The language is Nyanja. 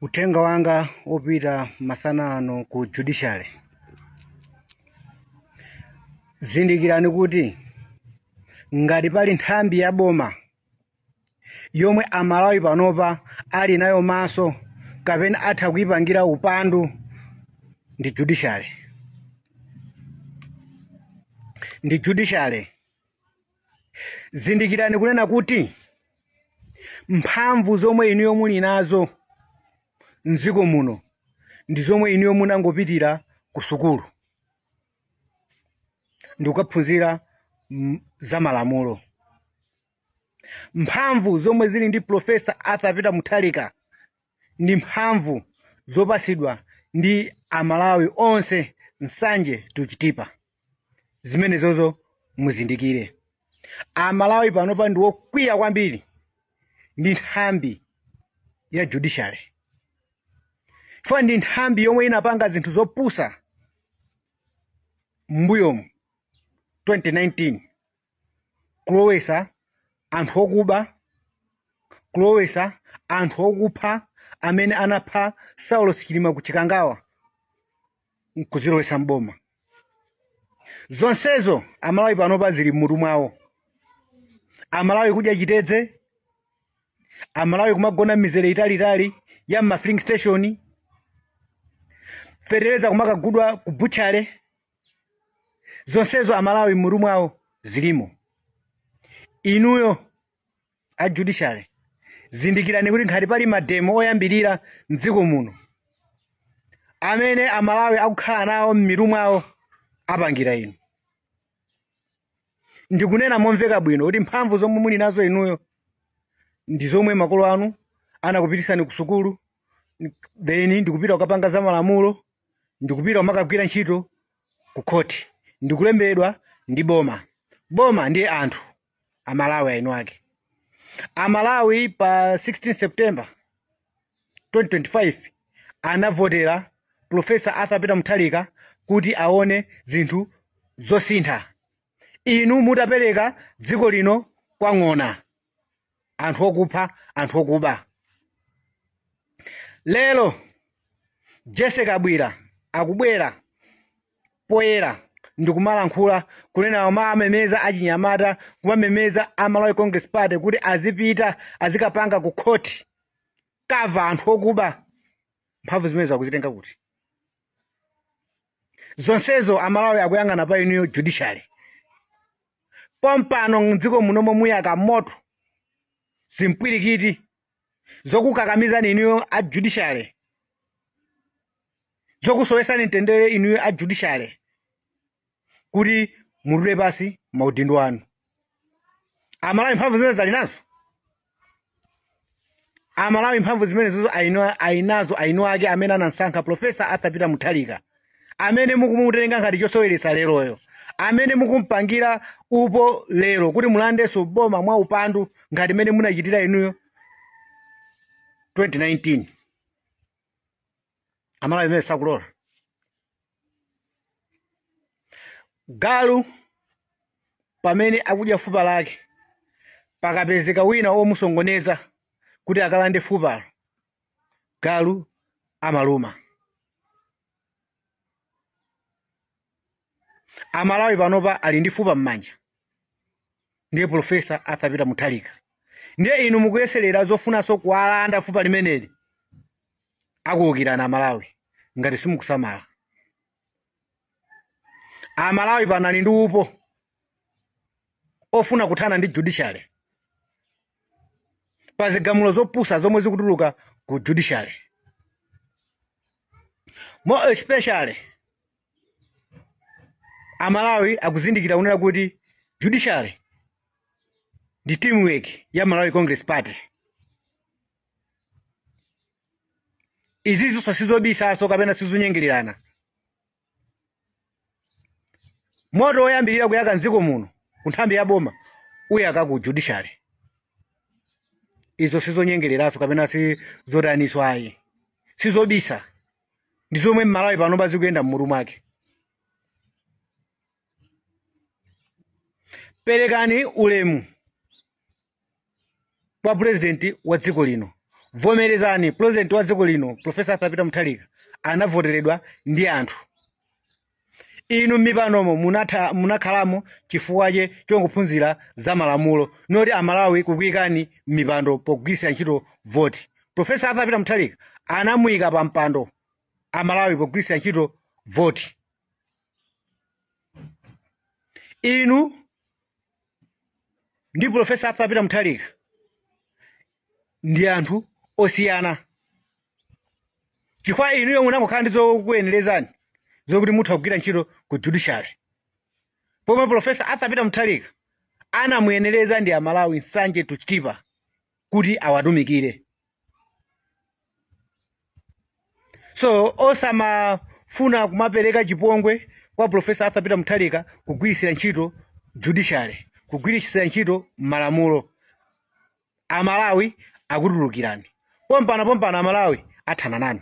uthenga wanga opita masana ano ku judiciary zindikirani kuti ngati pali nthambi ya boma yomwe amalawi panopa ali nayo maso kapena atha kuyipangira upandu ndi judiciary ndi judiciary Zindikirani kunena kuti mphamvu zomwe inuyo muli nazo mdziko muno ndi zomwe inuyo munangopitira ku sukulu ndikukaphunzira za malamulo. Mphamvu zomwe zili ndi Professor Arthur Peter Mutharika ndi mphamvu zopasidwa ndi Amalawi onse nsanje to Chitipa. zimenezozo muzindikire amalawi panopa ndi wokwiya kwambiri ndi nthambi ya judiciary chifukwa ndi nthambi yomwe inapanga zinthu zopusa m'mbuyomu 2019 kulowesa anthu okuba kulowesa anthu okupha amene anapha saulos chilima ku chikangawa nkuzilowesa mboma zonsezo amalawi panopa zili mmutu mwawo amalawi kudya chitedze amalawi kumagona mmizere italiitali ya mmafilling station fetereza kumakagudwa ku butchale zonsezo amalawi mmutu mwawo zilimo inuyo a judiciary zindikirani kuti ngati pali mademo oyambirira mdziko muno amene amalawi akukhala nawo m'mitu mwawo apangira inu ndikunena momveka bwino kuti mphamvu zomwe muli nazo inuyo ndi zomwe makolo anu anakupitisani ku sukulu then ndikupita kukapanga za malamulo ndikupita kumakagwira ntchito ku khoti ndikulembedwa ndi boma boma ndiye anthu amalawi aini ake amalawi pa 16 september 2025 anavotera profesa arthur peter mutharika kuti aone zinthu zosintha inu mutapereka dziko lino kwa ng'ona anthu okupha anthu okuba lero jessie kabwila akubwera poyera ndikumalankhula kunena kumamemeza achinyamata kumamemeza a Malawi Congress Party kuti azipita azikapanga ku khoti kava anthu okuba mphamvu zimenezo akuzitenga kuti zonsezo amalawi akuyang'ana pa inuyo judiciary pompano mdziko munomo muyaka moto zimpwirikiti zokukakamizani inuyo a judiciary zokusowesani mtendere inuyo a judiciary kuti mutule pasi maudindo anu amalawi mphamvu zimenezi ali nazo amalawi mphamvu zimenezizo ali nazo eni ake amene anamsankha profesa arthur peter mutharika amene mukumutenga ngati chosoweretsa leroyo amene mukumpangira upo lero kuti mulandenso boma mwa upandu ngati mmene munachitira inuyo 2019 amalawi zimenezo sakulola galu pamene akudya fupa lake pakapezeka wina omusokoneza kuti akalande fupalo galu amaluma amalawi panopa ali ndi fupa m'manja ndiye profesa arthur peter mutharika ndiye inu mukuyeserera zofunanso kuwalanda fupa limeneli akuwukirani amalawi ngati simukusamala amalawi pano ali ndi upo ofuna kuthana ndi judiciary pa zigamulo zopusa zomwe zikutuluka ku judiciary more especially amalawi akuzindikira kunena kuti judiciary ndi teamwork ya malawi congress party izizo sizobisanso kapena sizonyengererana moto woyambirira kuyaka mdziko muno ku nthambi ya boma uyaka ku judiciary izo sizonyengereranso kapena sizotaninso ayi sizobisa ndi zomwe mmalawi panopa zikuyenda mmutu mwake perekani ulemu kwa pulezidenti wa dziko lino vomerezani pulezidenti wa dziko lino profesa arthur peter mutharika anavoteredwa ndi anthu inu m'mipandomo munakhalamo chifukwa chake chongophunzira za malamulo not amalawi kukuyikani m'mipando pogwiritsira ntchito voti profesa arthur peter mutharika anamuyika pa mpando amalawi pogwiritsira ntchito voti inu ndi profesa arthur peter mutharika ndi anthu osiyana chifukwa inuyo munangokhala ndi zokuyenerezani zokuti mutha kugwira ntchito ku judiciary pomwe profesa arthur peter mutharika anamuyenereza ndi amalawi nsanje to chitipa kuti awatumikire so osamafuna kumapereka chipongwe kwa profesa arthur peter mutharika kugwiritsira ntchito judiciary kugwiritsira ntchito malamulo amalawi akutulukirani pompano pompano amalawi athana nanu